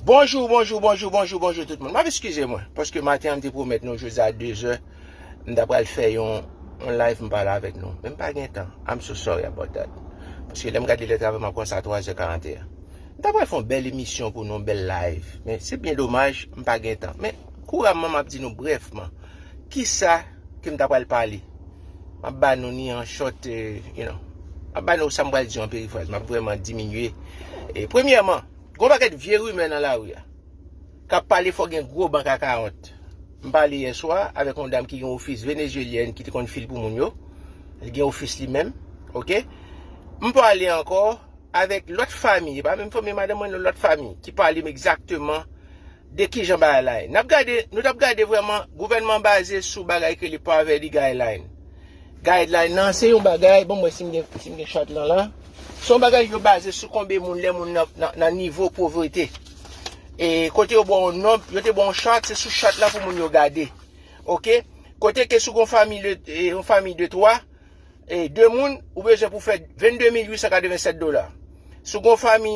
Bonjou, bonjou, bonjou, bonjou, bonjou tout moun. Map eskize mwen, paske maten an m te pwomèt nou jodi a 2 zè, m ta pral fè yon yon live m pale avèk nou, men m pa gen tan. I'm so sorry about that. Paske lè m gade lè travay m ap wè sa 3 zè 41. M ta pral fè yon bèl emisyon pou nou, yon bèl live, men se byen domaj m pa gen tan. Men kouramman m ap di nou brèfman, kisa ke m ta pral pale. Map ba nou ni an short, you know. Map ba nou sa m pral di an perifraz. Map vreman diminye. E premyèman, gwo pakèt vye rimè nan lari a. Kap pale fò gen gwo bank akawont. M pale yè swa avèk yon dam ki gen ofis Venezyelyèn ki te konn fil pou moun yo. Li gen ofis li menm. Ok. M pale ankò avèk lòt fami, e pa menm fanmi madanm mwen non, lòt fami ki pale m egzakteman. de kijan bagay la ye. N ap gade, nou t ap gade vrèman gouvènman an baze sou bagay ki rele Poverty Guideline. Guideline lan se yon bagay, ban m wè si m gen chart lan la. Se yon bagay yo baze sou konbe moun lè moun nan nivo povrete. E kote yo ba w yon nonb, yo te ba w yon chart, se sou chart la pou moun yo gade. Ok, kote ke si w gen yon fanmi de, yon fanmi de 3, e 2 moun, ou bezwen pou fè 22887 dola. Si w gen yon fanmi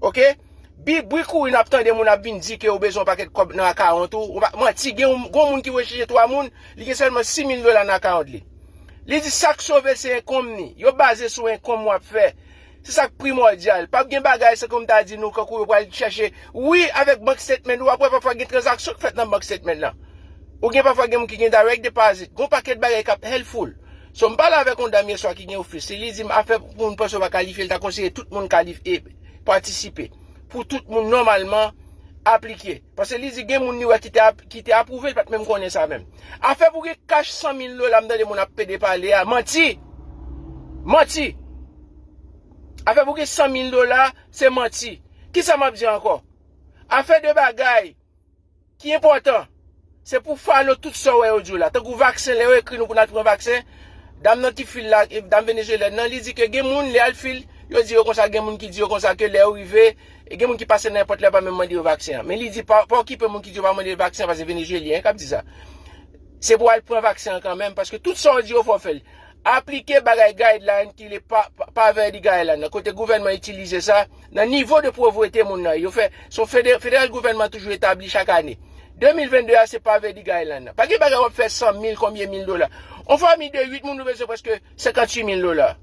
Ok Bgy bri kouri nap tande moun ap vin di ke ou bezwen yon pakèt kòb nan account ou manti gen yon moun ki recheche 3 moun li gen sèlman 6000 dola nan account li li di sak sove se enkonm ni yo baze sou enkonm wap fè se sak primòdyal pap gen bagay se kòm ta di nou kankou yo pral chèche wi avèk bank statement ou wap wè pafwa gen tranzaksyon ki fèt nan bank statement lan ou gen pafwa gen moun ki gen direct deposit gon pakèt bagay kap helpful. So m pale avèk yon dam yèswa ki gen ofis, si li di m afè pou moun panse ou pa kalifye li ta konseye tout moun kalif e patisipe pou tout moun nòmalman aplike pase li di gen moun li wè ki te ki te apwouve li pat menm konnen sa menm afè pou gen kach 100 mil dola m tande moun ap pede pale a manti manti afè pou gen 100 mil dola se manti kisa m ap di ankò afè de bagay ki enpòtan, se pou falo tout sa w wè yo di w la. Tankou vaksen, lè yo ekri nou pou n al pran vaksen, dam nan ki fil la, dam venezyelyèn nan, li di ke gen moun lè al fil, yo di yo konsa gen moun ki di yo konsa ke lè yo rive, gen moun ki pase nan enpòt lè yo pa menm mande yo vaksen an. Men li di pa okipe moun ki di yo pa mande yo vaksen an paske se venezyelyen k ap di sa. Se pou w al pran vaksen an kanmenm paske tout sa yo di yo fò w fè l. Aplike bagay guideline ki le pave di guideline nan kote gouvènman itilize sa nan nivo de povrete moun nan yo fè son federal gouvènman toujou etabli chak ane 2022 a se pave di guideline nan pa gen bagay wap fè 100 mil konbyen mil dola on fami de 8 moun nou bezwen preske 58 mil dola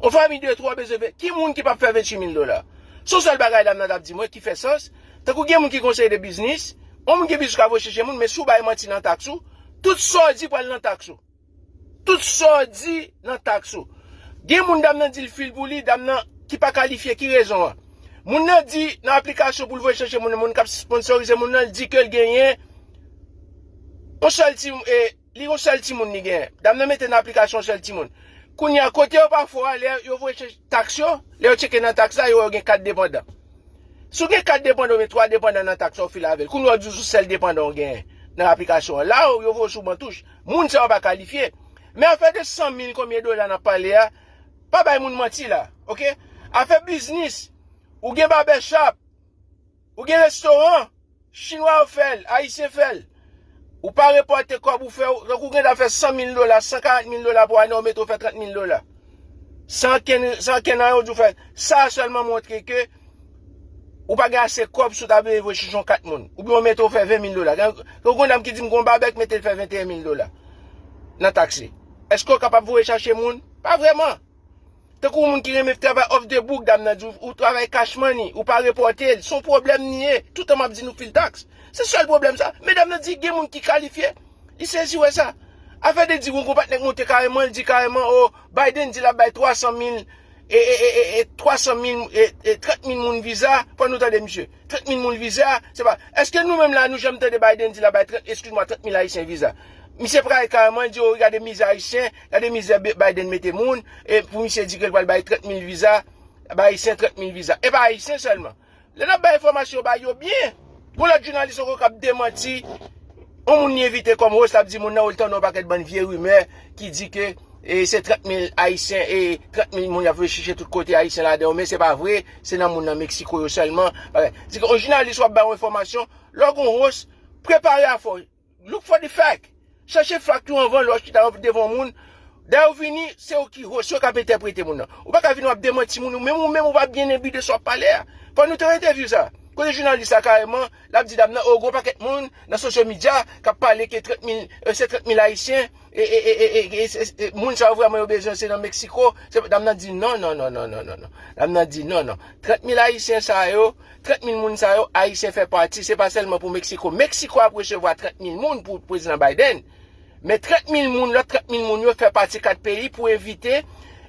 on fami de 3 bezwen ki moun ki pap fè 28 mil dola son sel bagay dam nan tap di mwen ki fè sans tankou gen moun ki konseye de biznis on moun gen biznis ka voye chèche moun men sou bay manti nan tax ou tout sa ou di pral nan tax ou Tout sa w di nan taks ou. Gen moun dam nan di l fil pou li, dam nan ki pa kalifye ki rezon an? Moun nan di nan aplikasyon pou l voye chèche moun nan, moun k ap sponsorize moun nan l di ke l genyen yon sèl ti e li yon sèl timoun li genyen. Dam nan mete nan aplikasyon yon sèl timoun. Kounye a kote yo pa fò a lè yo voye chèche taks yo, lè yo tcheke nan taks la yo wè yo gen 4 depandan. Si w gen 4 depandan oubyen 3 depandan nan taks sa w file avè l, kounye a w di w sou sèl depandan w genyen nan aplikasyon an. La yo voye w sou bantouch. Moun sa yo pa kalifye. Men afè de 100 mil konbyen dola nap pale a, pa bay moun manti la ok. Afè biznis, ou gen babèchap, ou gen restoran, chinwa yo fèl, ayisyen fèl, ou pa repòte kòb ou fè, tankou ou gen dwa fè 100 mil dola, 140 mil dola pou ane ou mete ou fè 30 mil dola. San ankenn, san ankenn anyen ou di ou fè, sa sèlman montre ke. Ou pa gen ase kòb si w ta vle voye chichon 4 moun. Oubyen yo mete w fè 20 mil dola. Gen yon dam ki di m gen yon babèk mete l fè 21 mil dola nan taksi. Eske w kapab voye chache moun? Pa vreman. Te kou moun ki renmen fè travay off the book dam nan di w travay cash money, ou pa repòte l. Son pwoblèm li ye. Toutan m ap di nou fil taks. Se sèl pwoblèm sa. Men dam nan di gen moun ki kalifye. Li sezi wè sa. Afè de di yon konpatnè k monte kareman, l di kareman o Biden di l ap bay 300 mil. E e e e e 300 mil e e 30 mil moun viza fò nou tande misye 30 mil moun viza se pa eske nou menm la nou janm tande Biden di la bay 30 eskiz mwa 30 mil ayisyen viza misye pale kareman li di o gade mizè ayisyen gade mizè Biden mete moun e pou misye di ke li pral bay 30 mil viza bay ayisyen 30 mil viza e pa ayisyen sèlman Lè nap bay enfòmasyon bay yo byen. Gon lòt jounalis ankò kap demanti yon moun li envite kòm host lap di moun nan ou li tande yon pakèt bann vye rimè ki di ke se 30 mil ayisyen e 30 mil moun yap rechiche tout kote ayisyen ladan yo men se pa vre se nan moun nan Mexico yo sèlman. Di ke yon jounalis wap bay yon enfòmasyon lè w gon host prepare afè w. Look for the fact. Chèche fakt yo anvan lè wap chita devan yon moun. Dayè ou vini, se ou ki host, se ou kap entèprete moun nan. Ou pa ka vini wap demanti moun, ou menm ou menm ou pa byen enbi de sa wap pale a. Fò nou te yon entèvyou sa. Kote jounalis la kareman, lap di dam nan, oh gon pakèt moun nan sosyo midya kap pale ke 30 mil, se 30 mil ayisyen, e moun sa yo vrèman yo bezwen se nan Mexico, dam nan di non non non non non non non. Dam nan di non non. 30 mil ayisyen sa yo, 30 mil moun sa yo Ayisyen fè pati, se pa sèlman pou Meksiko. Meksiko ap resevwa 30 mil moun pou Prezidan Biden, men 30 mil moun, lòt 30 mil moun yo fè pati 4 peyi pou evite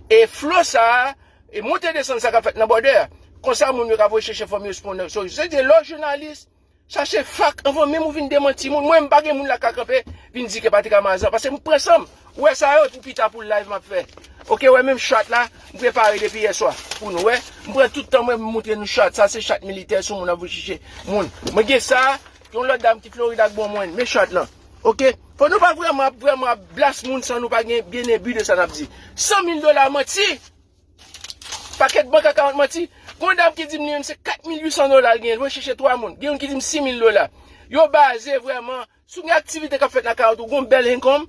e flo sa a, e monte desann sa k ap fèt nan bòdè a. Konsa moun yo ka voye chèche fòm yo sponne. So, se te lè w jounalis, chache fak anvan menm ou vin demanti moun. Mwen menm m pa gen moun la k ka kanpe vin di ke Patrick Amazan, paske m pran san m. Ou wè sa yo pou pita pou live map fè ok wè menm chat la m prepare depi yè swa pou nou wè m pran tout tan mwen pou m moutre nou chat sa se chat militè sou moun ap vin chiche moun mwen gen sa yon lòt dam ki Florida ak bon mwen men chat lan ok fò nou pa vrèman ap vrèman ap blas moun san nou pa gen byen e bu de sa nap di 100 mil dola manti pakèt bank akawont manti gon dam ki di m li menm se 4800 dola l gen l vin chiche 3 moun gen youn ki di m 6000 dola yo baze vrèman. Sou gen aktivite kap fèt nan kay ou tou gon bèl income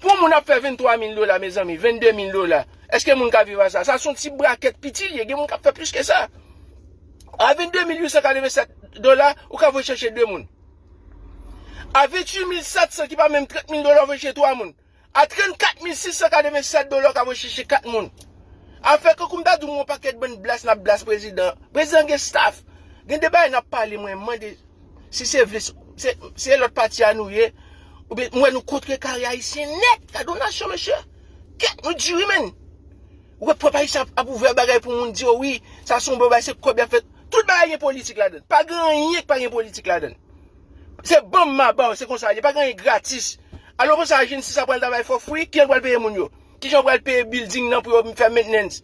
pou moun ap fè 23 mil dola mezanmi 22 mil dola eske moun ka viv a sa sa son ti brakèt piti li ye gen moun kap fè plis ke sa a 22 mil 887 dola ou ka voye chèche 2 moun a 28 mil 700 ki pa menm 30 mil dola ou voye chèche 3 moun. A 34 mil 687 dola ou ka voye chèche 4 moun. A fè kankou m ta di w yon pakèt bann blas n ap blas prezidan an. Prezidan an gen staf. Gen de bagay n ap pale mwen mande si se vle se lòt pati a nou ye oubyen m wè nou kontrekare ayisyen nèt. Gade yon nasyon mesye. Kè nou di wi menn. Ou wè pèp ayisyen ap ouvè bagay pou moun di yo wi sa se yon bon bagay se kòb y ap fè. Tout bagay gen politik ladann. Pa gen anyen ki pa gen politik ladann. Se banm ma baw se konsa liye pa gen anyen gratis Alo konsa agency sa pral travay fo free kijan yo pral peye moun yo kijan yo pral peye building nan pou yo fè maintenance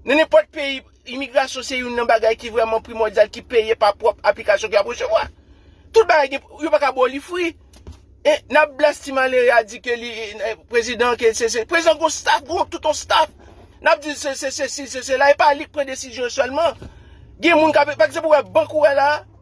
nan nenpòt peyi imigrasyon se youn nan bagay ki vrèman primòdyal ki peye pa pwòp aplikasyon ke yap resevwa tout bagay gen yo paka baw li free e nap blast ti malere a di ke li prezidan ke se se prezidan gon staff gon tout on staff nap dil se se sesi se sela e pa lik pran desizyon sèlman gen moun kap pa ekzanp ou wè bank ou wè la.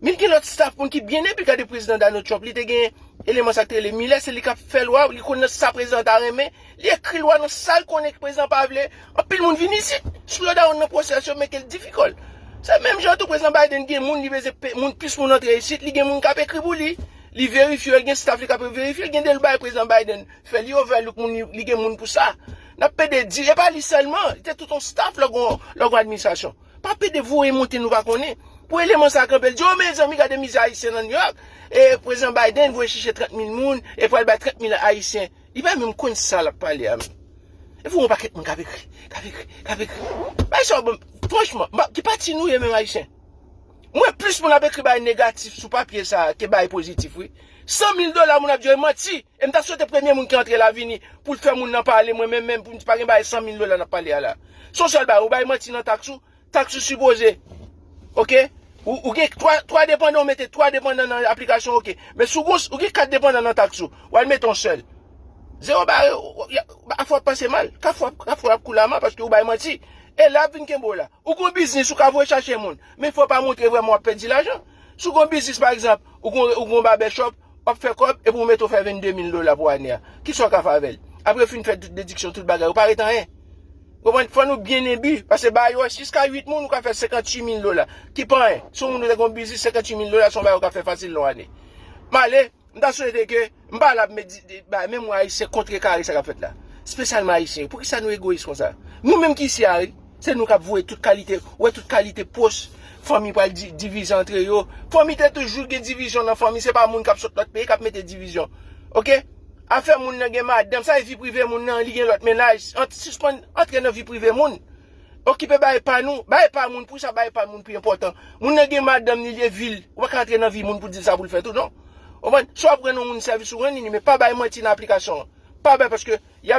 Min gen lòt staff moun ki byen epi gade prezidan Donald Trump li te gen eleman sak te rele Miller se li kap fè lwa li konn nan sa prezidan ta renmen li ekri lwa nan sal konnen prezidan pa vle anpil moun vin isit slow down nan pwosès yo make l difikòl se menm jan tou prezidan Biden gen moun li veze pe moun plis moun antre isit li gen moun kap ekri pou li li verifye l gen staff li kap verifye l gen de lbay prezidan Biden fè li overlook moun li gen moun pou sa nap pede di e pa li sèlman li te tout yon staff lò gon lò gon administrasyon Pa pede voye monte nou pa konnen. Pou eleman sa kanpe l di oh mezanmi gade mizè ayisyen nan New York e prezidan Biden voye chèche 30 mil moun e pral bay 30 mil ayisyen. Li pa menm konn sa lap pale a menm. Epi gon pakèt moun kap ekri, kap ekri, kap ekri. Bagay sa yo banm franchman m pa ki pati nou ye menm ayisyen. M wè plis moun ap ekri bagay negatif sou papye sa ke bagay pozitif wi. 100 mil dola moun ap di yo e manti. E m ta swete premye moun ki antre la vini pou l fè moun lan pale mwen menm menm pou m di pa gen bagay 100 mil dola n ap pale a la. Son sèl bagay ou bay manti nan taks ou, taks ou sipoze ok ou gen 3 3 depandan ou mete 3 depandan nan aplikasyon ok men si w gen yon ou gen 4 depandan nan taks ou w al mete yon sèl zewo bare afè w ap pase mal kafou kafou ap kou lama paske ou bay manti e la ap vin kenbe w la ou gen yon biznis ou ka voye chache moun men fò w pa montre vrèman w ap pèdi lajan si w gen yon biznis pa egzanp ou gen yon babè chòp Wap fè kòb epi ou mete ou fè 22 mil dola pou ane a. Kisa ou ka fè avèl? Apre ou fin fè tout dediksyon, tout bagay, ou pa ret anyen. Konprann? Fò nou byen enbi. Pase ba yo jiska 8 moun ou ka fè 58 mil dola. Ki pa anyen. Si yon moun ou te gen yon biznis 58 mil dola se yon bagay ou ka fè fasil nan yon ane. M ale, m ta swete ke m pa la pou met di bagay men mwen ayisyen kontrekare sa kap fèt la. Spesyalman ayisyen yo. Poukisa nou egoyis konsa? Nou menm ki isi a wi. Se nou kap voye tout kalite, ou wè tout kalite post, fanmi pral divize antre yo, fanmi te toujou gen divizyon nan fanmi, se pa moun kap sot lòt peyi kap mete divizyon ok, afè moun nan gen madanm, sa e vi prive moun nan, li gen lòt mennaj, sispann antre nan vi prive moun, okipe bagay pa nou, bagay pa moun, pou sa bagay pa moun pi enpòtan, moun nan gen madanm li, li e vil, ou pa ka antre nan vi moun pou dil sa poul fè tou non, ou konprann, si wap rann yon moun sèvis ou rann li, men pa bay manti nan aplikasyon an, pa bay paske yap.